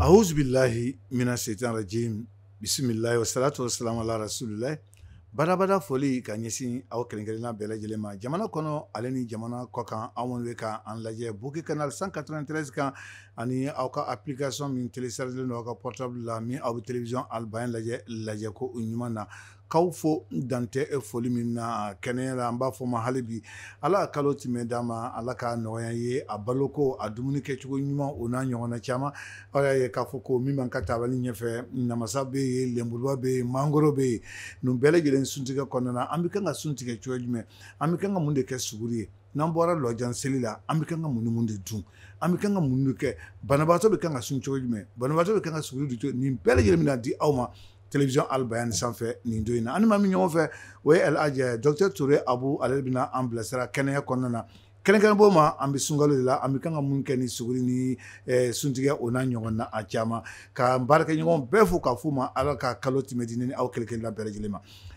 A'uzu bilahi mina seyitaani rajim bisimilahi wa salatu wa salamu ala rasulilahi badabada foli ka ɲɛsin aw kelen-kelenna bɛɛ lajɛlen ma jamana kɔnɔ ale ni jamana kɔkan aw minnu bɛ ka an lajɛ Bouquet Canal 193 kan ani aw ka application min téléchargélen don aw ka portable la min aw bɛ télévision Al Bayan lajɛ lajɛko ɲuman na k'aw fo dantɛ foli min na kɛnɛya la an b'a f'aw ma hali bi ala ka kalo timɛ d'an ma ala ka nɔgɔya ye a baloko a dumuni kɛcogo ɲuman o n'a ɲɔgɔnna caman aw y'a ye k'a fɔ ko min b'an ka tabali ɲɛfɛ namasa bɛ yen lenburuba bɛ yen mangoro bɛ yen ninnu bɛɛ lajɛlen suntigɛ kɔnɔna na an bɛ kan ka sun tigɛ cogo jumɛn an bɛ kan ka mun de kɛ suguri ye n'an bɔra lɔjan seli la an bɛ kan ka mun ni mun de dun an bɛ kan ka mun de kɛ banabaatɔ bɛ kan ka sun cogo jumɛn banabaatɔ bɛ kan ka suguri dun cogo nin bɛɛ lajɛlen bɛna di aw ma télévision Al Bayan sanfɛ nin don in na an ni maa min bɛ ɲɔgɔn fɛ o ye El Hadj docteur Ture Abu ale bɛna an bilasira kɛnɛya kɔnɔna na kɛrɛnkɛrɛnnen b'o ma an bɛ sunkalo de la an bɛ kan ka mun kɛ ni suguri ni suntigɛ o n'a ɲɔgɔnna caman ka n baarakɛɲɔgɔn bɛɛ fo k'a f'u ma Ala ka kalo timɛ di ne ni aw kelen-kelenna bɛɛ lajɛlen ma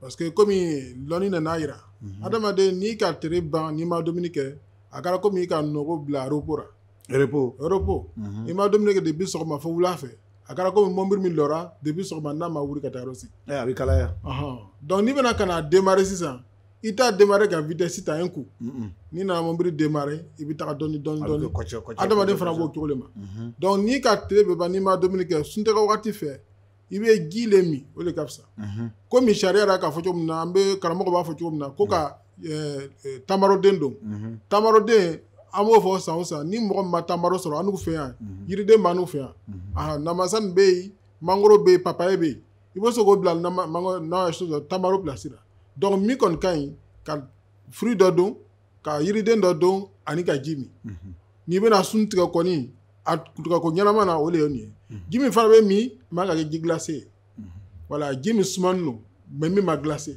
parce que kɔmi lɔnni nan'a yira mhm. adamaden n'i ka tere ban n'i ma dumuni kɛ a kɛra komi i ka nɔgɔ bila repos la repos repos mhm. i ma dumuni kɛ depi sɔgɔma fo wula fɛ a kɛra komi mɔbili min lɔra depi sɔgɔma n'a ma wuli ka taa yɔrɔ si eh, a bɛ kalaya donc n'i bɛna ka n'a demare sisan i t'a demare ka vitɛsi ta un coup n'i nana mɔbili demare i bɛ taga dɔɔni dɔɔni dɔɔni adamaden fana b'o cogo le ma mhm. donc n'i ka tere bɛɛ ban n'i ma dumuni kɛ suntigɛ wagati fɛ i bɛ ji le min o de ka fisa komi sariya yɛrɛ k'a fɔ cogo min na an bɛ karamɔgɔ b'a fɔ cogo min na ko ka tamaroden don tamaroden an b'o fɔ san o san ni mɔgɔ min ma tamaro sɔrɔ annu fɛ yan yiriden b'annu fɛ yan aa namasa nin bɛ yen mangoro bɛ yen papaye bɛ yen i bɛ se k'o bila n'a ye se sɔrɔ tamaro plasi ra donc min kɔni ka ɲi ka fruit dɔ don ka yiriden dɔ don ani ka ji min mhm. n'i bɛna sun tigɛ kɔni a tigɛko ɲɛnama na o le ye nin ye mhm. ji min fana bɛ min man ka kɛ ji glase ye mhm. voilà ji min sumanin don mais min ma glase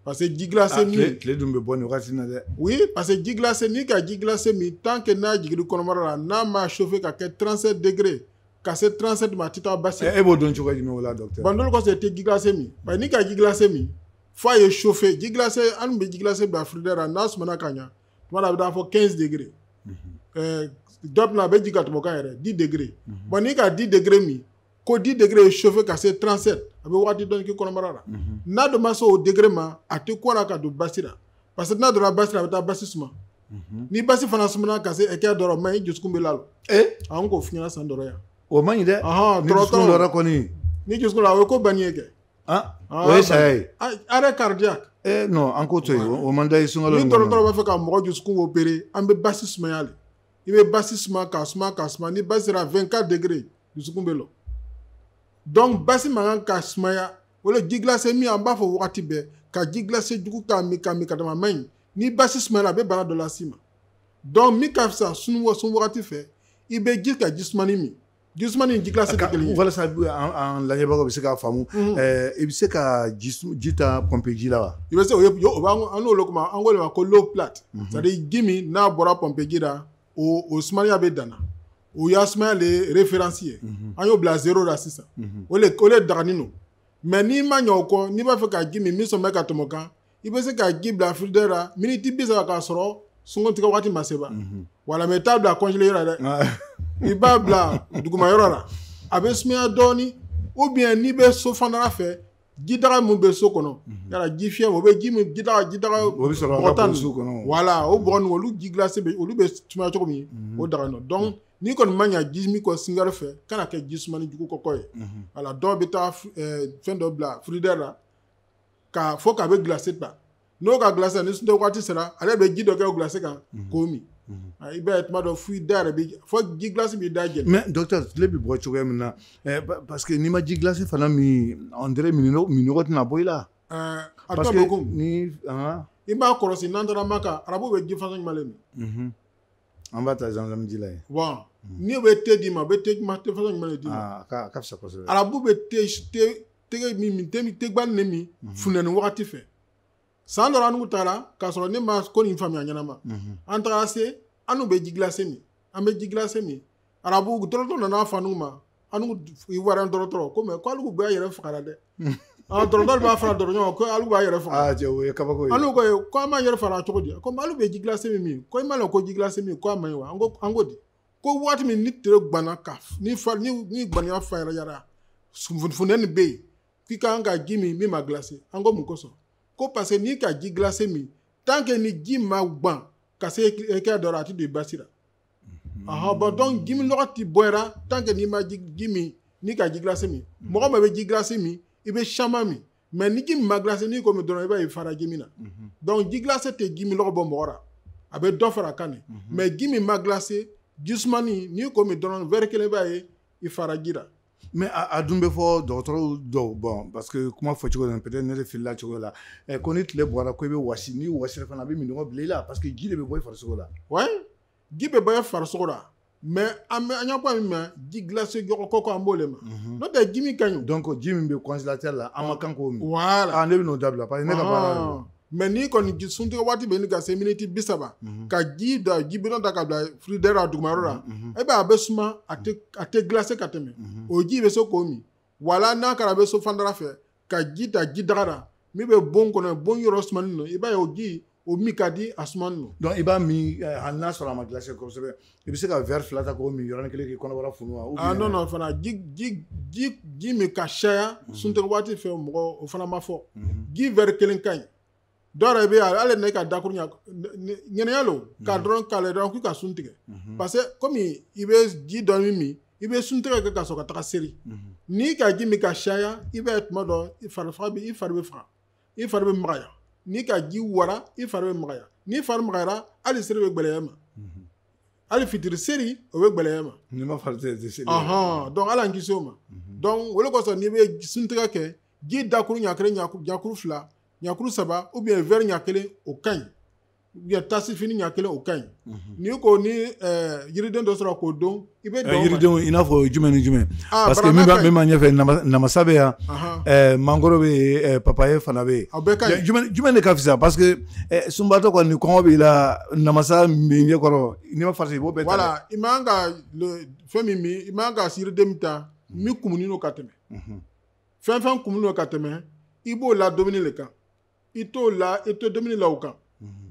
parce que ji glase ah, mais tile dun bɛ bɔ nin wagati na dɛ oui parce que ji glase n'i ka ji glase min tant que n'a jigir'i kɔnɔbara la n'a ma chauffer ka kɛ 37 degré ka se 37 ma a tɛ taa basi e b'o dɔn cogo jumɛn o la docteur bon o le kɔsɔn i tɛ ji glase min bari n'i ka ji glase min f'a ye chauffer ji glacé an tun bɛ ji glacé bila frigidaire la n'a sumana ka ɲa tuma dɔ a bɛ taa fo 15 degré ɛɛ dɔ tɛna a bɛ jigin ka tɛmɛ o kan yɛrɛ 10 degré bon n'i ka 10 degré min ko 10 degré ye chauffer ka se 37 a bɛ waati dɔɔni k'i kɔnɔbara la n'a dun ma se o degré ma a tɛ kɔn ka don basi la parce que n'a donna basi la a bɛ taa basi suma ni basi fana sumana ka se hakɛya dɔ la o man ɲi i dusukun bɛ lalɔ ee an k'o f'i ɲɛna san dɔrɔn yan o man ɲi dɛ Ɔhɔn, ni dusukun tɔrɔtɔrɔ. lɔra kɔni ni dusukun la o ye ko bannin ye kɛ o ye saya ye arrêt cardiaque ee non an k'o to yen o man da ye sunkalo ni dɔgɔtɔrɔ b'a fɛ ka mɔgɔ dusukun opérer an bɛ basi sumaya le i bɛ basi suma k'a suma k'a suma ni basi sera 24 degrés dusukun bɛ lɔ donc basi man kan ka sumaya o le ji glacé min an b'a fɔ wagati bɛɛ ka ji glacé jugu k'a min k'a min ka dama man ɲi ni basi sumayala a bɛ bana dɔ las'i ma donc min ka fisa sun wagati fɛ i bɛ ji ka ji sumani min Jisuma ni ji glacé tɛ kelen ye walasa an lajɛbagaw bɛ se k'a faamu i bɛ se ka ji ta pɔnpe ji la wa i bɛ se o ye o b'an an n'olu kuma an k'o le ma ko l'eau plate c'est à dire ji min n'a bɔra pɔnpe ji la o o sumaya bɛ danna o y'a sumaya le référence ye an y'o bila zéro la sisan o le o le daganin no mais n'i ma ɲɛ o kɔ n'i b'a fɛ ka ji min min suma bɛ ka tɛmɛ o kan i bɛ se ka ji bila frigidaire la miniti bi saba k'a sɔrɔ suntigɛ waati ma se ba voilà mais i t'a bila congélateur la dɛ i b'a bila duguma yɔrɔ la a bɛ sumaya dɔɔnin ou bien n'i bɛ so fana fɛ ji daga min bɛ so kɔnɔ yala jifiyɛ o bɛ ji ji ji tan so kɔnɔ voilà o b olu ji glacé bɛ olu bɛ suma cogo min o daganin no donc n'i kɔni ma ɲɛ ji min kɔ sunkari fɛ kana kɛ ji sumani jugu kɔkɔ ye voilà dɔw bɛ taa fɛn dɔ bila frigidaire la k'a fɔ k'a bɛ gilasi ta n'o ka gilasi ni suntigɛ waati sera ale bɛ ji dɔ kɛ o gilasi kan mhm. k'o min mhm. ah, i b'a ye tuma dɔ fo i da yɛrɛ bɛ fo ji glacé b'i da jɛni. mais docteur tile bɛ bɔ cogoya min na eh, parce que n'i ma ji glacé fana min on dirait minnɔgɔ tɛna bɔ i la. Eh, a tɔ bɛ ko ni i b'a kɔlɔsi n'an taara Maka arabu bɛ ji façon jumɛn le min. Mhm. an b'a ta zamzam ji la yen. bon n'u bɛ te d'i ma u bɛ te jumɛn te façon jumɛn le d'i ma. aa ah, a ka fisa kosɛbɛ. arabu bɛ te te te min min te gbanin ne min mhm. funteni wagati fɛ san dɔ annu taara k'a sɔrɔ ne ma ko nin faamuya ɲɛnama mhm. an taara se annu bɛ ji glacé min an bɛ ji glacé min arabu dɔrɔtɔ nana a fɔ annu ma annu wara dɔrɔtɔrɔ ko mais ko alu b'a yɛrɛ fagara dɛ ah, dɔrɔtɔ b'a fɔra dɔrɔtɔ ɲɔgɔn ko alu b'a yɛrɛ faga ah, annu ko ko an b'a yɛrɛ fagara cogo di ko alu bɛ ji glacé min min ko i m'a dɔn ko ji glacé min ko a man ɲi wa an ko di ko waati min ni tere gbanna ka ni fa ni ni gbaniya fariyara funteni bɛ yen k'i ka kan ka ji min min ma glacé an ko mun kosɔn ko parce que n'i ka ji glacé min tant que ni ji ma gban ka se hakɛ dɔ la a ti don i basi la ahan bon donc ji min nɔgɔ ti bɔ i ra tant que n'i ma ji ji min n'i ka ji glacé min mɔgɔ min bɛ ji glacé min i bɛ caman min mais ni ji min ma glacé n'i k'o min dɔrɔn i b'a ye i fara ji min na mhm. donc ji glacé tɛ ji min lɔgɔ bɔ mɔgɔ ra a bɛ dɔ fara kan ne mhm. mais ji min ma glacé ji sumani n'i k'o min dɔrɔn verre kelen b'a ye i fara ji ra mais a dun bɛ fɔ dɔgɔtɔrɔw dɔw bon parce que kuma fɔ cogo peut être ne de filila cogo la ko ni tile bɔra ko i bɛ wasi n'i wasira fana a bɛ minnɔgɔ bila i la parce que ji de bɛ bɔ i farisogo la ji bɛ bɔ farisogo la mais an bɛ an y'a fɔ min ma ji glacé jɔgɔ kɔkɔ an b'o le ma mhm. n'o tɛ ji min ka ɲi donc ji min bɛ congélateur la an ma kan k'o min voilà ah, ne bɛ n'o dabila parce que ne ka baara ah. mais n'i kɔni ji suntigɛ waati bɛ ɲini ka se miniti bi saba mhm. ka ji da ji bidɔn ta ka bila frigidaire la dugumayɔrɔ la mhm, e b'a a bɛ suma a tɛ glacé ka tɛmɛ o ji bɛ se k'o min wala n'a kɛra bɛ so fandara fɛ ka ji ta ji daga la min bɛ bon kɔnɔ bon yɔrɔ sumani don i b'a ye o ji o min ka di a sumani don donc i b'a min eh, hali n'a sɔrɔ a ma glacé kosɛbɛ i bɛ se ka verre fila ta k'o min yɔrɔnin kelen k'i kɔnɔbara funu wa ah non non fana ji ji ji ji min ka caya mhm. suntigɛ waati fɛ mɔgɔ o fana ma fɔ mhm. ji verre kelen ka ɲi dɔw yɛrɛ bɛ yen hali ne ka dakuru ɲɛnɛya lo ka mhm. dɔrɔn k'ale dɔrɔn k'u ka sun tigɛ mhm. parce que kɔmi i bɛ ji dɔ min min i bɛ sun tigɛ kɛ ka sɔrɔ ka taga seri mhm. n'i ka ji min ka caya i b'a ye tuma dɔ i fari faga bɛ i fari bɛ faga i fari bɛ magaya n'i ka ji wara i fari bɛ magaya n'i fari magayara hali seri bɛ gbɛlɛya ma hali fitiri seri o bɛ gbɛlɛya ma n'i ma farati i tɛ seri donc ala an kisi o ma donc o de kosɔn n'i bɛ sun tigɛ kɛ ji dakuru ɲa kelen ɲakuru fila ɲakuru saba ou bien verre ɲa kelen o ka ɲi ou bien tasi fini ɲa kelen o ka ɲi mhm. n'i kɔni eh, yiriden dɔ sɔrɔ k'o don i bɛ eh, yiridenw i n'a fɔ jumɛn ni jumɛn ah, parce que min b'a min b'a ɲɛfɛ namasa bɛ yan eh, mangoro bɛ yen papaye fana bɛ yen jumɛn de ka fisa parce que sunbatɔ kɔni kɔngɔ b'i la namasa min ɲɛ kɔrɔ n'i ma farati i b'o bɛɛ ta voilà i man ka fɛn min min i man ka yiriden min ta min kumunen don ka tɛmɛ mhm. fɛn fɛn kumunen don ka tɛmɛ i b'o la dumuni le kan i t'o la i tɛ dumuni la o kan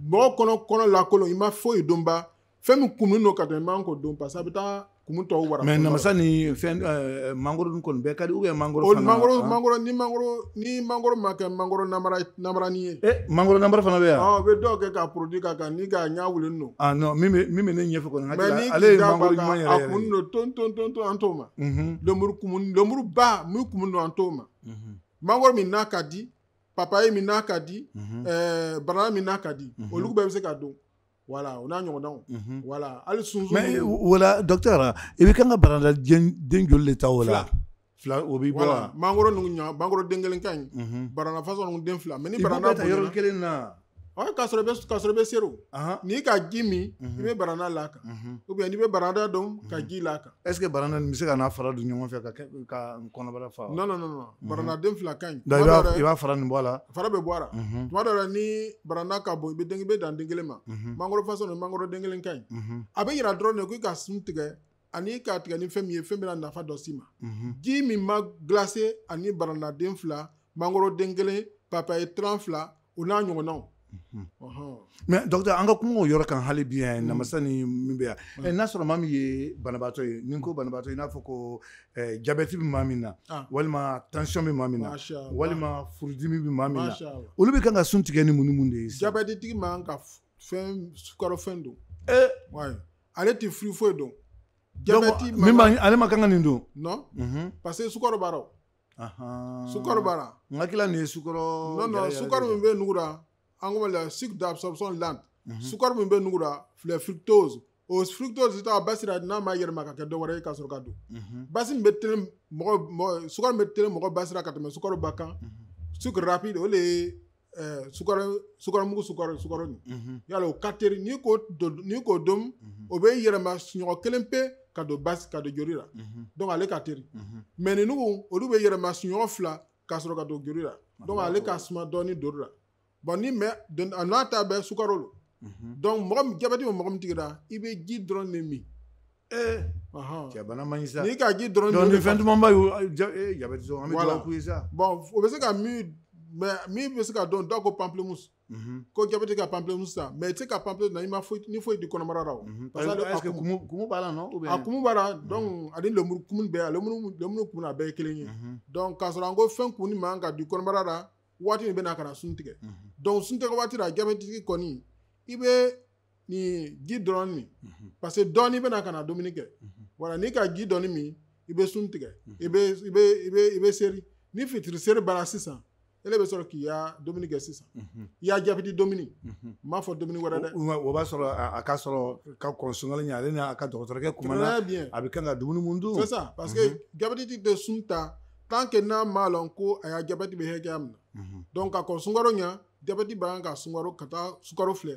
mɔgɔ kɔnɔ kɔnɔ lakolon i ma foyi don ba fɛn min kumunen don ka tɛmɛ i man k'o don parce que a bɛ taa kumun tɔw wara mais namasa ni fɛn eh, mangoro dun kɔni bɛɛ ka di ou bien mangoro fana mangoro ah. mangoro ni mangoro ni mangoro ma kɛ mangoro namara namarani ye eh, mangoro namara fana bɛ yan u bɛ dɔw kɛ ka produit k'a kan ni k'a ɲa wulen don ah non min bɛ min bɛ ne ɲɛfɛ kɔni ale ye mangoro ɲuman yɛrɛ yɛrɛ a kumun don ton ton ton ton an t'o ma Mhm. Lemuru kumun lemuru ba min kumun don an t'o ma. Mhm. Mangoro min n'a ka di papaye min n'a ka di mhm. eh, baranda min n'a ka di olu bɛɛ bɛ se ka don. Voilà, o n'a ɲɔgɔndanw. Voilà, hali sunsun. Mais voilà docteur i bɛ kan ka baranda den den joli de ta o la? fila o b'i bɔ wa mangoro ninnu ɲa mangoro den kelen ka ɲi baranda façon ninnu den fila mais ni baranda bonyana yɔrɔ kelen na ɔ k'a sɔrɔ i bɛ k'a sɔrɔ i bɛ seri o Ahan. n'i ka ji min i bɛ baranda la kan Mhm. ou bien n'i bɛ baranda don ka ji la kan est ce que baranda nin bɛ se k'a n'a fara don ɲɔgɔn fɛ ka kɛ ka n kɔnɔbara fa wa? non non non non barandaden fila ka ɲi Donc, i tuma dɔw b'a i la b'a fara nin bɔ a la fara bɛ bɔ a la Mhm. tuma dɔw la ni baranda ka bon i bɛ den i bɛ dan den kelen ma Mhm. mangoro façon nin mangoro den kelen ka ɲi Mhm. a bɛ yira dɔrɔn de ko i ka sun tigɛ ani k'a tigɛ ni fɛn min ye fɛn bɛna nafa dɔ s'i ma mhm. ji min ma glacé ani baranaden fila mangoroden kelen papaye tranche fila o n'a ɲɔgɔnnaw mhm. mais docteur an ka kuma o yɔrɔ kan hali bi yan mhm. namasa ni min bɛ yan n'a sɔrɔ maa min ye banabaatɔ ye ni ko banabaatɔ i n'a fɔ ko jabɛti bɛ maa min na ah. walima tansiyɔn bɛ maa min na walima furudimi bɛ maa min na olu bɛ kan ka sun tigɛ ni mun ni mun de ye jabɛtitigi man ka fɛn sukarofɛn dun ee ale tɛ fruit foyi dun jabɛti min b'a ale man kan ka nin dun non mhm. parce que sukaro b'a rɔ sukaro b'a la n hakili la nin ye sukaro non non sukaro min bɛ nugu la an ko la sucre d'absorption lente mhm. sukaro min bɛ nugu la filɛ fructose o fructose ta basi la n'a ma yɛlɛma ka kɛ dɔ wɛrɛ ye ka sɔrɔ ka don mhm. basi min bɛ tɛnɛ mɔgɔ sukaro bɛ tɛnɛ mɔgɔ basi la ka tɛmɛ sukaro bɛɛ kan sucre rapide o de ye sukaromugu suka sukaro nin yala o ka teri n'i ko n'i k'o dun o bɛ yɛlɛma siɲɔgɔn kelen pe ka don basi ka don joli la donc ale ka teri mais ninnugu olu bɛ yɛlɛma siɲɔgɔn fila ka sɔrɔ ka don joli la donc ale ka suma dɔɔni joli la bon ni mais a n'a ta bɛɛ sukaro lo donc mɔgɔ jabɛti bɛ mɔgɔ min tigi la i bɛ ji dɔrɔn de min ee cɛ bana man ɲi sa n'i ka ji dɔrɔn donc ni fɛn duman ba y'o jabɛti sɔrɔ an bɛ dugawu k'u ye sa bon o bɛ se ka min mɛ min bɛ se ka dun dɔw ko pamplemousse ko jabɛti ka pamplemousse san mais i tɛ se ka pamplemousse na i ma foyi ni foyi di kɔnɔbara la o parce que kumu b'a la non a kumu b'a la donc ani lemuru kumu bɛɛ a lemuru lemuru kumu a bɛɛ ye kelen ye donc k'a sɔrɔ an ko fɛn kumunin man ka di kɔnɔbara la waati min bɛ na ka na sun tigɛ donc sun tigɛ waati la jabɛtitigi kɔni i bɛ nin ji dɔrɔn min mhm. parce que dɔɔni i bɛna ka na dumuni kɛ mhm. voilà n'i ka ji dɔɔni min i bɛ sun tigɛ mhm. i bɛ i bɛ i bɛ i bɛ seri ni fitiri seri banna sisan ele bɛ sɔrɔ k'i ya dumuni kɛ sisan i ya jabɛti dumuni n m'a fɔ dumuni wɛrɛ dɛ o b'a sɔrɔ a ka sɔrɔ ka kɔn sunkalo ɲɛ ale n'a ka dɔgɔtɔrɔkɛ kumana a bɛ kan ka dumuni mun dun c'est ça parce que jabɛtitigi tɛ sun ta tant que n'a m'a lɔn ko a ya jabɛti bɛ hakɛya min na donc ka kɔn sunkaro ɲɛ jabɛti bɛ kan ka sukaro ka taa sukaro filɛ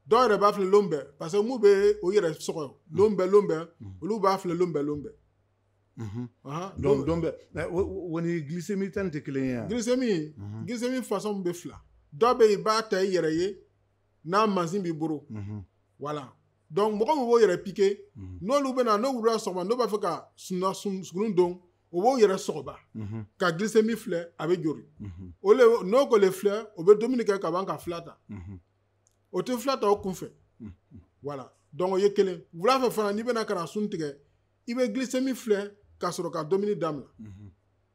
dɔw yɛrɛ b'a filɛ lon bɛɛ parce que min bɛ o yɛrɛ sɔgɔ lon bɛɛ lon bɛɛ olu b'a filɛ lon bɛɛ lon bɛɛ donc don bɛɛ o ni glycémie ta nin tɛ kelen ye glycémie glycémie façon bɛ fila dɔ bɛ yen i b'a ta i yɛrɛ ye n'a mansin b'i bolo voilà donc mɔgɔ min b'o yɛrɛ pike n'olu bɛna n'o wulila sɔgɔma n'o b'a fɛ ka sunna suguri dun o b'o yɛrɛ sɔgɔ ba mhm. ka glycémie filɛ a bɛ jori mhm. o le n'o k'o le filɛ o bɛ dumuni kɛ ka ban ka fila ta mhm. o tɛ fila ta o kunfɛ voilà donc o ye kelen wula fɛ fana n'i bɛna ka na sun tigɛ i bɛ glycémie filɛ ka sɔrɔ ka dumuni daminɛ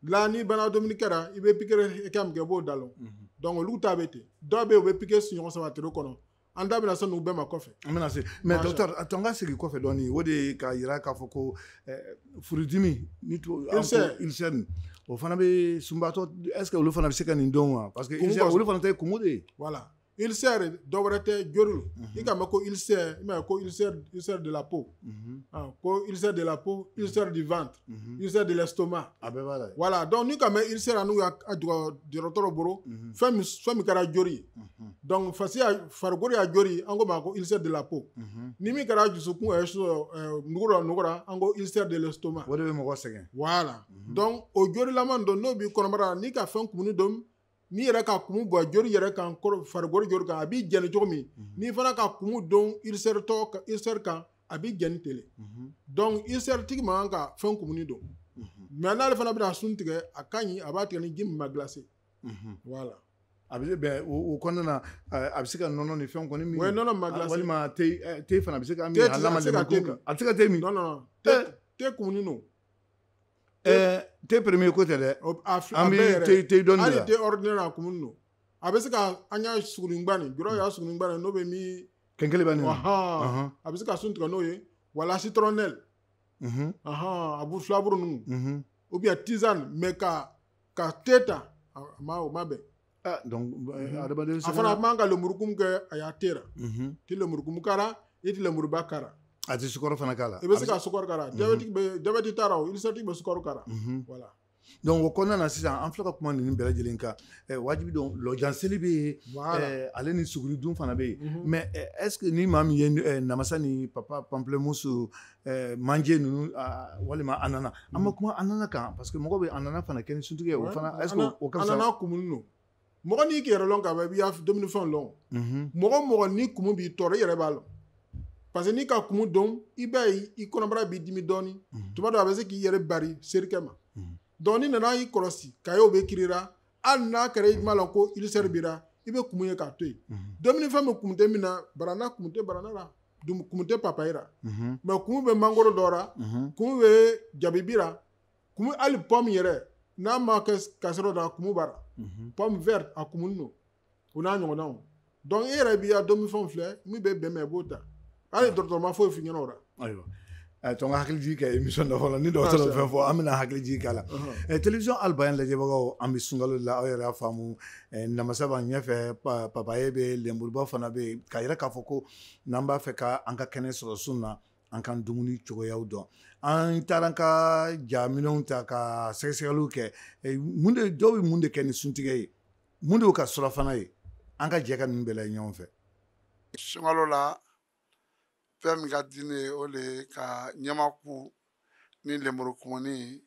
la n'i banna dumuni kɛ ra i bɛ pikiri hakɛ min kɛ i b'o da lɔn donc olu ta bɛ ten dɔw bɛ yen u bɛ pikiri siɲɔgɔn saba tile kɔnɔ an da bɛna se n'u bɛɛ ma kɔfɛ an bɛna se mais docteur a to an ka segin kɔfɛ dɔɔnin o de k'a yira k'a fɔ ko eh, furudimi ni ulcère o fana bɛ sunbatɔ est ce que olu fana bɛ se ka nin dun wa parce que olu fana ta ye kumu de ye voilà ulcère dɔ wɛrɛ tɛ jori lo i k'a mɛn ko ulcère i m'a ye ko ulcère ulcère de la peau mhm. ah, ko ulcère de la peau ulcère du ventre Mhm. ulcère de l'estomac a bɛɛ b'a la voilà donc n'i k'a mɛn ulcère la n'u y'a jɔ dɔgɔtɔrɔ bolo mhm. fɛn min fɛn min kɛra jori ye mhm. donc fasi y'a farikolo ya jori an k'o ma ko ulcère de la peau ni min kɛra dusukun ɛ euh, nugu dɔ nugu la an ko ulcère de l'estomac o de bɛ mɔgɔ sɛgɛn voilà donc o jorilama don n'o b'i kɔnɔbara la n'i ka fɛn kumunin dun n'i yɛrɛ ka kumu bɔn jori yɛrɛ kan farikolo jori kan a b'i jɛni cogo min mhm. n'i fana ka kumu dun ulcère kan a b'i jɛni ten le mhm. donc ulcère tigi man kan ka fɛn kumunin dun mhm. mais n'ale fana bɛna sun tigɛ a ka ɲi a b'a tigɛ ni ji min ma glacé voilà a bɛ bɛn o kɔnɔna na a bɛ se ka nɔnɔ ni fɛn kɔni min o ye nɔnɔ ma glacé walima te fana a bɛ se ka min a lama lɛmɛ kun kan a bɛ se ka te min te kumunin don ɛɛ te premier ko tɛ dɛ O- a fi- a an bɛ bɛ te- te dɔnni de hali la. te ordinaire a kumunin don a bɛ se ka an y'a sugunba nin jɔrɔ y'a sugunba nin n'o bɛ min kɛnkeliba nin na wahan Ahan. a bɛ se ka sun tigɛ n'o ye wala citronnelle Mhm, ahan a bu filaburu ninnu mhm. ou bien tisane mais ka ka te ta a ma o ma bɛn ah, donc eh, mhm. adamaden a fana man kan ka lemurukumu kɛ a ya te ra mhm. ti lemurukumu k'a ra i ti lemuruba k'a ra a ti sukaro fana k'a la i bɛ se ka sukaro k'a ra mhm. jabɛti bɛ jabɛti t'a la o ulcère tigi bɛ sukaro k'a ra voilà donc o kɔnɔna na sisan an filɛ ka kuma ninnu bɛɛ lajɛlen kan eh, wajibi don lɔjanseli bɛ yen eh, ale ni suguri dun fana bɛ yen mais est ce que ni maa min ye namasa ni papa pamplemousse manje ninnu walima ananas an ma kuma ananas kan parce que mɔgɔ bɛ ananas fana kɛ ni suntigɛ ye o fana est ce que o ka fisa ananas kumunin don mɔgɔ n'i k'i yɛrɛ lɔn ka ban i b'i dumunifɛnw lɔn mɔgɔ mɔgɔ ni kumu b'i tɔɔrɔ i yɛrɛ b'a lɔn parce que n'i ka kumu dun i b'a ye i kɔnɔbara b'i dimi dɔɔnin tuma dɔ a bɛ se k'i yɛrɛ bari serikɛ ma donc n'i nana y'i kɔlɔsi k'a y'o bɛ k'i ra hali n'a kɛra i m'a lɔn ko ulcère b'i ra i bɛ kumu ye k'a to yen mhm. dumuni fɛn bɛ kumu tɛ min na barana kumu tɛ barana la kumu tɛ papayi la mhm. mais kumu bɛ mangoro dɔ la mhm. kumu bɛ jabibi la kumu hali pomme yɛrɛ n'a ma kɛ kasɔrɔ da kumu b'a ra pomme verte a kumunin don o n'a ɲɔgɔnnaw donc i yɛrɛ b'i ka dumunifɛnw filɛ min bɛ bɛn i ma i b'o ta hali ah. dɔgɔtɔrɔ ma foyi f'i ɲɛna o la ayiwa eh, to n ka hakilijigi kɛ émission dɔ fɔlɔ ni dɔgɔtɔrɔ ah, fɛn fɔ an bɛna hakilijigi k'a la uh-huh. eh, télévision albayan lajɛbagaw an bɛ sunkalo la aw yɛrɛ y'a faamu eh, namasa b'an ɲɛfɛ papaye bɛ lenburuba fana bɛ yen k'a yira k'a fɔ ko n'an b'a fɛ ka an ka kɛnɛ sɔrɔ sun na an ka dumuni cogoyaw dɔn an taara an ka jaminɛnw ta ka sɛgɛsɛgɛliw kɛ mun de dɔw bɛ mun de kɛ ni suntigɛ ye mun de y'u ka surafana ye an ka jɛ ka ninnu bɛɛ lajɛ ɲɔgɔn fɛ sunkalo la fɛn min ka di ne ye o le ye ka ɲamaku ni lemuru kumuni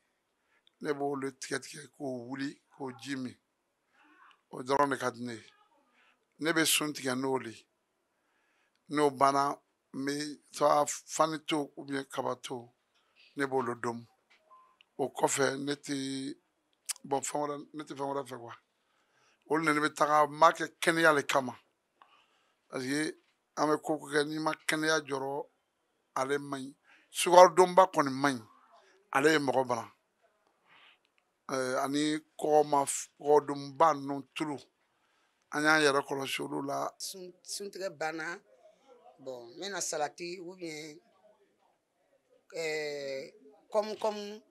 ne b'olu tigɛ tigɛ k'o wuli k'o ji min o dɔrɔn de ka di ne ye ne bɛ sun tigɛ n'o de ye n'o banna n bɛ taa fani to ou bien kaba to ne b'olu domu o kɔfɛ ne tɛ bon fɛn wɛrɛ ne tɛ fɛn wɛrɛ fɛ quoi olu de ne bɛ taga n b'a kɛ kɛnɛya le kama parce que an bɛ ko o ko kɛ n'i ma kɛnɛya jɔrɔ ale man ɲi sukarodunba kɔni man ɲi ale ye mɔgɔ bana eh, ani kɔgɔma kɔgɔdunba ninnu tulu an y'an yɛrɛ kɔlɔsi olu la suntigɛ banna bon n bɛna salati ou bien eh, kɔmukɔmu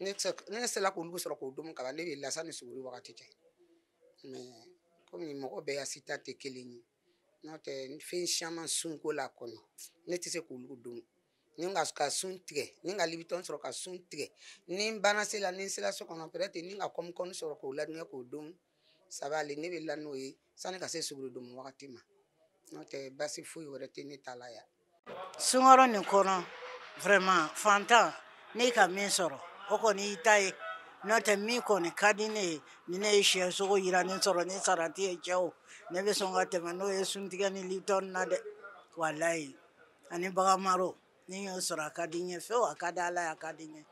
ne tɛ- ne sela k'olu sɔrɔ k'o domu kaban ne bɛ la sani suguri wagati cɛ mais komi mɔgɔ bɛɛ ya sita tɛ kelen ye N'o tɛ fɛn caman sunkalo kɔnɔ ne tɛ se k'olu domu ni n ka sun tigɛ ni n ka lipton sɔrɔ ka sun tigɛ ni n banna seli la ni n sera so kɔnɔ peut-être ni n ka kɔmukɔmu sɔrɔ k'o ladilan k'o domu ça va aller ne bɛ la n'o ye sani ka se suguri domu wagati ma n'o tɛ basi foyi wɛrɛ tɛ ne ta la yan sunkalo nin kɔnɔ vraiment fantan n'i ka min sɔrɔ o kɔni y'i ta ye n'o tɛ min kɔni ka di ne ye ni ne ye siyɛ sogo jiranen sɔrɔ ni salati ye cɛ o ne bɛ sɔn ka tɛmɛ n'o ye suntigɛ ni lipton na dɛ walayi ani baga maro ni n y'o sɔrɔ a ka di n ye fewu a ka di Ala ye a ka di n ye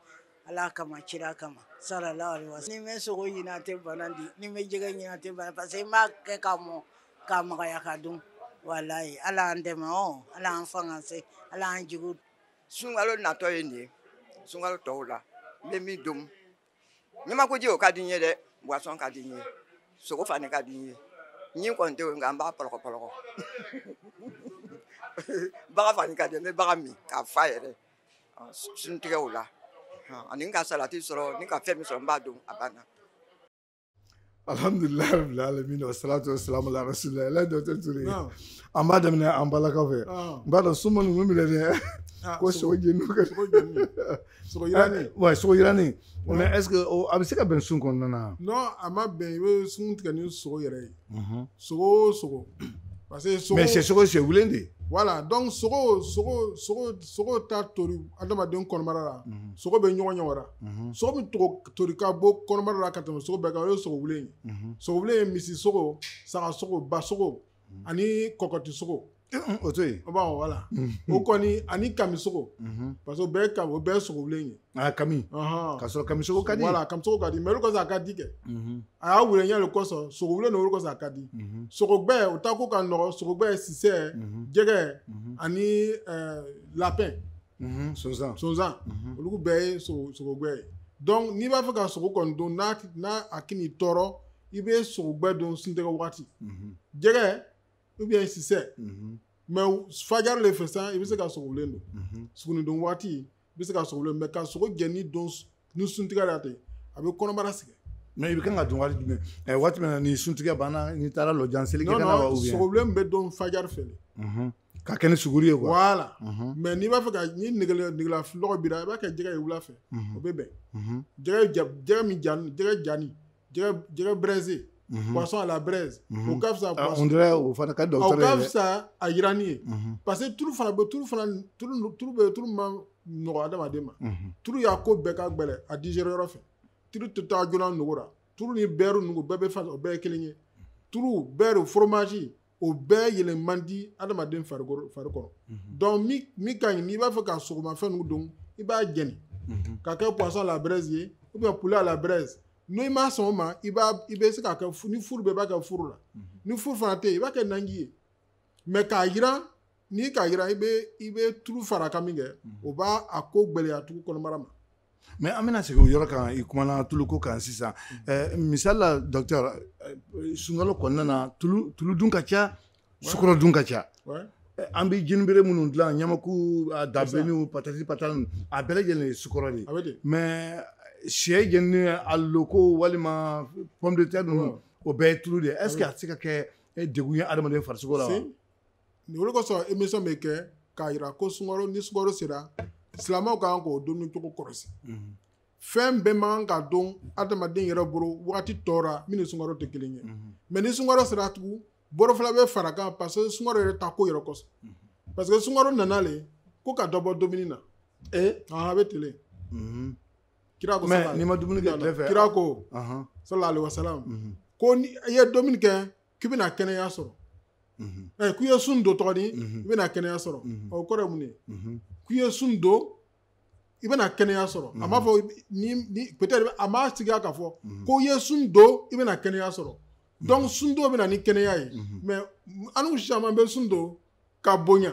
Ala kama kira kama sallallahu alaihi wasallam ni n bɛ sogo ɲimi a tɛ bana di ni n bɛ jɛgɛ ɲimi a tɛ bana parce que n b'a kɛ ka mɔ K'a magaya ka dun walahi Ala y'an dɛmɛ ɔn Ala y'an fanga se Ala y'an jigiw sunkalo natɔ ye nin ye sunkalo tɔw la n bɛ min domu ɲamakuji o ka di n ye dɛ boisson ka di n ye sogo fana ka di n ye ɲin kɔni tɛ o ye nka n b'a pɔlɔkɔpɔlɔkɔ baga fana ka di n ye n bɛ baga min ka fa yɛrɛ suntigɛ o la ani n ka salati sɔrɔ ni n ka fɛn min sɔrɔ n b'a dun a banna alhamdulilayi rabbil alamin wa salatu wa salamu ala rasulillah alors docteur Touré Naam. an b'a daminɛ an balakaw fɛ Ah. n b'a dɔn suma ninnu minɛ dɛ Ah, ko sogo jeni ka sogo jeni. Sogo yirani. ouais sogo yirani mais est ce que o- a bɛ se ka bɛn sun kɔnɔna na Non, a ma bɛn i bɛ sun tigɛ ni sogo yɛrɛ ye. sogo sogo parce que sogo mais c'est sogo c'est wulen de voilà donc sogo sogo sogo sogo ta tori adamaden kɔnɔbara la mhm. sogo bɛ ɲɔgɔn ɲɛ wara mhm. sogo min tori ka bɔ kɔnɔbara la ka tɛmɛ sogo bɛɛ kan o ye sogo wulen ye mhm. sogo wulen ye misi sogo saga sogo ba sogo ani kɔkɔti sogo o to yen bon voilà o kɔni ani kamisogo parce que o bɛɛ ka o bɛɛ sogowulen ye a kami ka sɔrɔ kamisogo ka di voilà kamisogo ka di mais o le kɔsɔn a ka di kɛ a y'a wulenya de kɔsɔn sogowulen o le kɔsɔn a ka di sogogbɛ o ta ko ka nɔgɔ sogogbɛ sisɛ jɛgɛ ani lapin sonsan sonsan olu bɛɛ ye sogogbɛ ye donc n'i b'a fɛ ka sogo kɔni dun n'a n'a a kan'i tɔɔrɔ i bɛ sogogbɛ dun suntigɛ wagati jɛgɛ ou bien sisɛ mais fajari le fɛ san i bɛ se ka sogowulen dun suguri dun waati i bɛ se ka sogowulen mais ka sogo jɛni dun ni suntigɛ la ten a bɛ kɔnɔbara sɛgɛn mais i bɛ kan ka dun waati jumɛn waati min na ni suntigɛ banna n'i taara lɔjan seli kɛ ka na wa ou bien sogowulen bɛ dun fajari fɛ le ka kɛ ni suguri ye quoi voilà mais n'i b'a fɛ ka ni negela lɔgɔ b'i ra i b'a kɛ jɛgɛ ye wula fɛ o bɛ bɛn jɛgɛ min jɛgɛ jani jɛgɛ braisé mhm. poisson à la braise mhm. o ka fisa ah, on dirait o fana ka dɔgɔtɔrɔ ye o ka fisa a yiranni ye mhm. parce que tulu fana bɛ tulu fana tulu tulu bɛ tulu ma nɔgɔ adamaden ma tulu y'a ko bɛɛ ka gɛlɛn a digérer yɔrɔ fɛ tulu tɛ taa joona nugu la tulu ni beurre nugu bɛɛ bɛ fasa o bɛɛ ye kelen ye tulu beurre fromage o bɛɛ yeelen man di adamaden fari kɔrɔ mhm. donc min ka ɲi n'i b'a fɛ ka sogomafɛn ninnu dun i b'a jɛni mhm. ka kɛ poisson à la braise ye ou bien poulet à la braise n'i ma sɔn o ma i b'a i bɛ se k'a kɛ ni furu bɛ i b'a kɛ furu la mhm. ni furu fana tɛ yen i b'a kɛ nanji ye mais k'a jiran n'i k'a jiran i bɛ i bɛ tulu fara kan min kɛ mhm. o b'a a ko gɛlɛya tugu kɔnɔbara ma mais an bɛna segin o yɔrɔ kan i kumana tulu ko kan sisan mhm. misali la docteur sunkalo kɔnɔna na tulu tulu dun ka ca sukɔrɔ dun ka ca an bɛ jinibere minnu dilan ɲamaku dabilenniw patati patani a bɛɛ lajɛlen ye sukɔrɔ de ye mais sɛ jenini aloko walima pomme de terre ninnu o bɛɛ ye tulu de ye est ce que a tɛ se ka kɛ degun ye adamaden farisogo la wa nin o le kosɔn émission bɛ kɛ k'a jira ko sungaro ni sungaro sera silamɛw ka kan k'o dumuni cogo kɔlɔsi mhm. fɛn bɛɛ man kan ka dun adamaden yɛrɛ bolo wagati tɔ ra min ni sungaro tɛ kelen ye mhm. mais ni sungaro sera tugun bɔrɔ fila bɛ fara kan parce que sungaro yɛrɛ ta ko yɛrɛ kosɔn mhm. parce que sungaro nana le ko ka dɔ bɔ dumuni na ee eh? a bɛ tele kira ko mais n'i ma dumuni kɛ tile fɛ kira ko sallallahu alaihi wasallam ko ni i ye dumuni kɛ k'i bɛna kɛnɛya sɔrɔ ɛ k'i ye sun don tɔgɔ di i bɛna kɛnɛya sɔrɔ ɔ o kɔrɔ ye mun ye k'i ye sun don i bɛna kɛnɛya sɔrɔ a m'a fɔ ni ni peut-être a m'a sigiya k'a fɔ ko i ye sun don i bɛna kɛnɛya sɔrɔ donc sun don bɛna ni kɛnɛya ye mais annu caman bɛ sun don ka bonya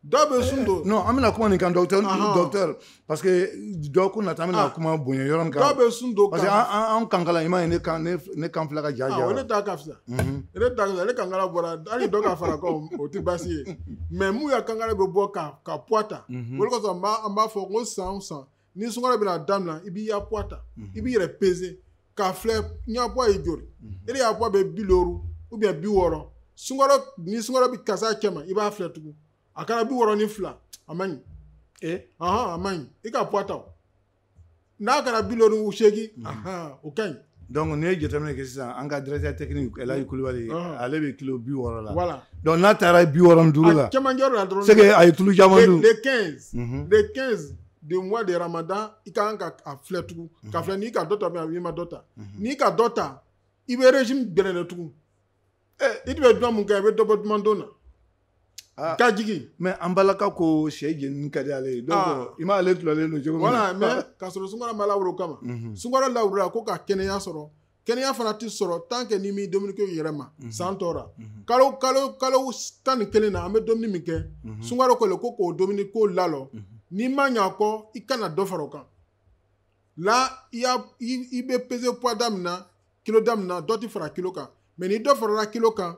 dɔw bɛ sun don non an bɛna kuma nin kan docteur docteur parce que dɔgɔkun nata an bɛna ah. kuma bonya yɔrɔ nin kan dɔw bɛ sun don parce que an kankala i m'a ye ne kan ne kan filɛ ka ja ja ah, ne ta ka fisa mhm. ne ta ka fisa ne kankala bɔra hali dɔ ka fara kan o tɛ baasi ye mais mun ya kankala bɛ bɔ ka ka poids ta mhm. o de kosɔn an b'a fɔ ko san o san ni sunkalo bɛna daminɛ i b'i ya poids ta mhm. i b'i yɛrɛ peser k'a filɛ n ya poids ye joli mhm. e de ya poids bɛ bi loru ou bien bi wɔɔrɔ sunkalo ni sunkalo bɛ ka se cɛ ma i b'a filɛ tugun a kɛra bi wɔɔrɔ ni fila a man ɲi ee ahan a man ɲi i ka poids ta o n'a kɛra bi loru ni seegin mhm. ahan o ka ɲi. donc n'i ye jateminɛ kɛ sisan an ka directeur technique Elayi Kulibali ale bɛ kilo bi wɔɔrɔ la voilà donc n'a taara bi wɔɔrɔ ni duuru la a cɛmancɛ la dɔrɔn c'est que a ye tulu caman dun le 15 le 15 de mois de ramadan i ka kan ka a filɛ tugun mhm. ka filɛ n'i ka dɔ ta mɛ a i ma dɔ ta mhm. n'i ka dɔ ta i bɛ régime gbɛlɛnya tugun ɛ i tun bɛ dumuni min kɛ i bɛ dɔ bɔ duman dun na ah. ka jigin mais an balaka ko sɛ jeninen ka di ale ye donc ah. i m'ale tɔlɔlen don cogo min na voilà mais ka sɔrɔ sunkalo ma lawuli o kama mhm. sunkalo lawulila ko ka kɛnɛya sɔrɔ kɛnɛya fana tɛ sɔrɔ tant que n'i m'i dumuni ko yɛlɛma mhm. san tɔ rɔ mhm. kalo kalo kalo tan ni kelen na an bɛ dumuni min kɛ mhm. sunkalo ko le ko k'o dumuni ko lalɔ n'i ma ɲa kɔ i kana dɔ fara o kan là i y'a i bɛ peser poids da min na kilo da min na dɔ tɛ fara kilo kan mais ni dɔ farala kilo kan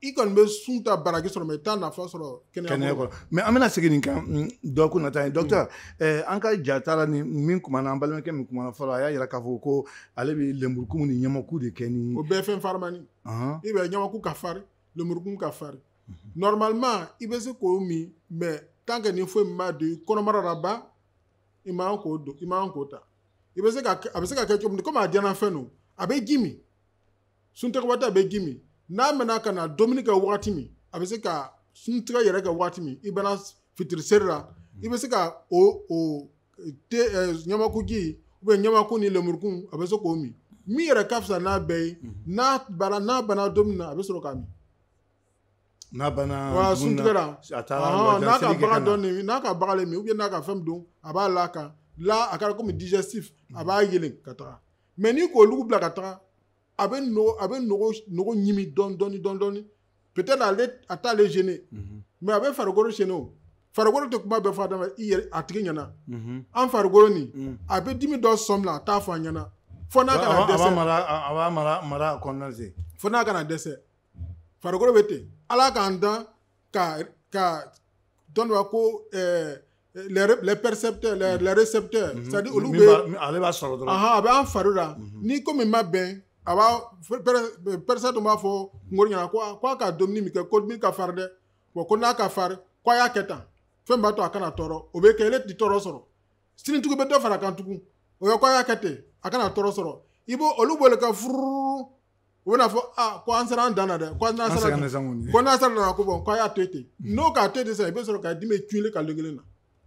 i kɔni bɛ sun ta baraji sɔrɔ mais i t'a nafa sɔrɔ kɛnɛya ko rɔ mais an bɛna segin nin kan mm, dɔgɔkun nata ye docteur mm. eh, an ka ja taara ni min kumana an balimakɛ min kumana fɔlɔ a y'a yira k'a fɔ ko ale bɛ lenburukumu ni ɲamaku de kɛ ni o bɛɛ fɛn farimani i bɛ ɲamaku ka fari lenburukumu ka fari mhm. normalement i bɛ se k'o min mais tant que ni foyi ma don i kɔnɔbara la ban i man k'o don i man k'o ta i bɛ se ka a bɛ se ka kɛ cogo min komi a diyanna fɛn don a bɛ ji min suntigɛ waati a bɛ ji min n'a mɛnna ka na dumuni kɛ wagati min a bɛ se ka suntigɛ yɛrɛ kɛ wagati min i bɛna fitiri seri la i bɛ se ka o o te ɲamakuji u bɛ ɲamaku ni lemurukumu a bɛ se k'o min min yɛrɛ ka fisa n'a bɛɛ ye n'a bara n'a banna dumuni na a bɛ sɔrɔ k'a min n'a bana wa suntigɛ ra n'a ka baga dɔɔnin n'a ka baga min ou n'a ka fɛn don a b'a la kan la a kɛra komi digestif a b'a yelen ka taga mais n'i k'o olugu bila ka taga a bɛ a bɛ nugu ɲimi dɔɔni dɔɔni peut-être ale a t'ale gêner mhm. mais a bɛ farikolo gêner o farikolo tɛ kuma bɛɛ fɔ adama i yɛrɛ a tigi ɲɛna mhm. an farikolo nin mhm. a bɛ dimi dɔ sɔmi la a t'a fɔ a ɲɛna fo n'a ka na dɛsɛ a b'a mara mara kɔnɔna se fo n'a ka na dɛsɛ farikolo bɛ ten ala k'an dan ka ka dɔn dɔ ko ɛɛ les percepteurs les, les récepteurs c'est à dire olu bɛ ale b'a sɔrɔ dɔrɔn ahan a bɛ an fari la ni ko min ma bɛn a b'a percepteur dun b'a fɔ kungolo ɲɛna ko ko a ka dumuni min kɛ ko min ka fari dɛ bon ko n'a ka fari ko a y'a kɛ tan fɛn b'a to a kana tɔɔrɔ o bɛ kɛ ale tɛ tɔɔrɔ sɔrɔ sini tugun bɛ dɔ fara kan tugun o ye ko a y'a kɛ ten a kana tɔɔrɔ sɔrɔ i b'o olu b'o le ka furu u bɛna fɔ aa ko an sera an dan na dɛ ko an sera ko n'an sera dan na ko bon k'a y'a to ten mm. n'o k'a to ten sisan i bɛ sɔrɔ k'a dimi cun i kan kelen na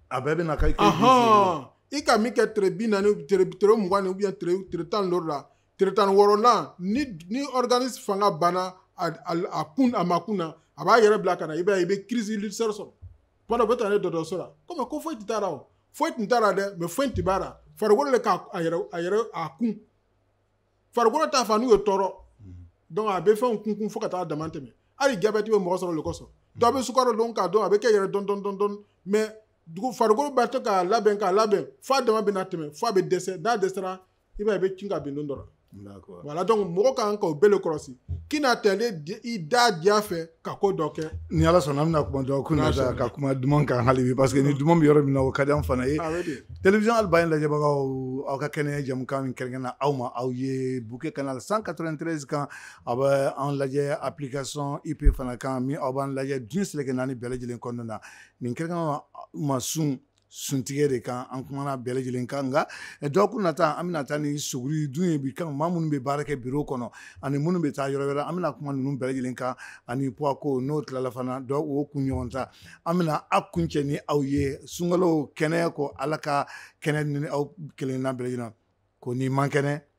a bɛɛ bɛ na ka i i ka min kɛ tere bi naani tere tere mugan ou bien tere tere tan ni la tere tan ni wɔɔrɔ la ni ni organisme fanga banna a kun a ma kun na a b'a yɛrɛ bila ka na i b'a ye i bɛ crise ulcère sɔrɔ tuma dɔ bɛ taa ne dɔgɔtɔrɔso la komi ko foyi tun t'a la o foyi tun t'a la dɛ mais foyi tun b'a la farikolo de k'a a yɛrɛ a yɛrɛ a kun farikolo t'a fɛ anw ye tɔɔrɔ donc a bɛ fɛnw kunkun fo ka taa dama tɛmɛ hali jabɛti bɛ mɔgɔ sɔrɔ o le kosɔn dɔ bɛ sukaro dun k'a dun a bɛ kɛ yɛrɛ dun dun dun dun mais farikolo b'a to k'a labɛn k'a labɛn f'a dama bɛ na tɛmɛ f'a bɛ dɛsɛ n'a dɛsɛra i b'a ye i bɛ cun ka bin don dɔ la voilà donc mɔgɔ ka kan k'o bɛɛ le kɔlɔsi k'i na tɛlen i da diya fɛ ka ko dɔ kɛ ni ala sɔnna an bɛna kuma dɔgɔkun nata ka kuma duman kan hali bi parce que ni duman bɛ yɔrɔ min na o ka di an fana ye télévision Al Bayane lajɛbagaw aw ka kɛnɛya jamukan min kɛrɛnkɛrɛnna aw ma aw ye bouquet canal 193 kan a bɛ an lajɛ application ip fana kan min aw b'an lajɛ diɲɛ seleke naani bɛɛ lajɛlen kɔnɔna na nin kɛrɛnkɛrɛnna ma sun suntigɛ de kan an kumana bɛɛ lajɛlen kan nka eh, dɔgɔkun nata an bɛna taa ni suguri dun ye bi kan maa minnu bɛ baara kɛ biro kɔnɔ ani minnu bɛ taa yɔrɔ wɛrɛ an bɛna kuma ninnu bɛɛ lajɛlen kan ani poids ko n'o tilala fana dɔgɔkun ɲɔgɔn ta an bɛna a kun cɛ ni aw ye sunkalo kɛnɛ ko ala ka kɛnɛ ni aw kelenna bɛɛ lajɛlen ko n'i man kɛnɛ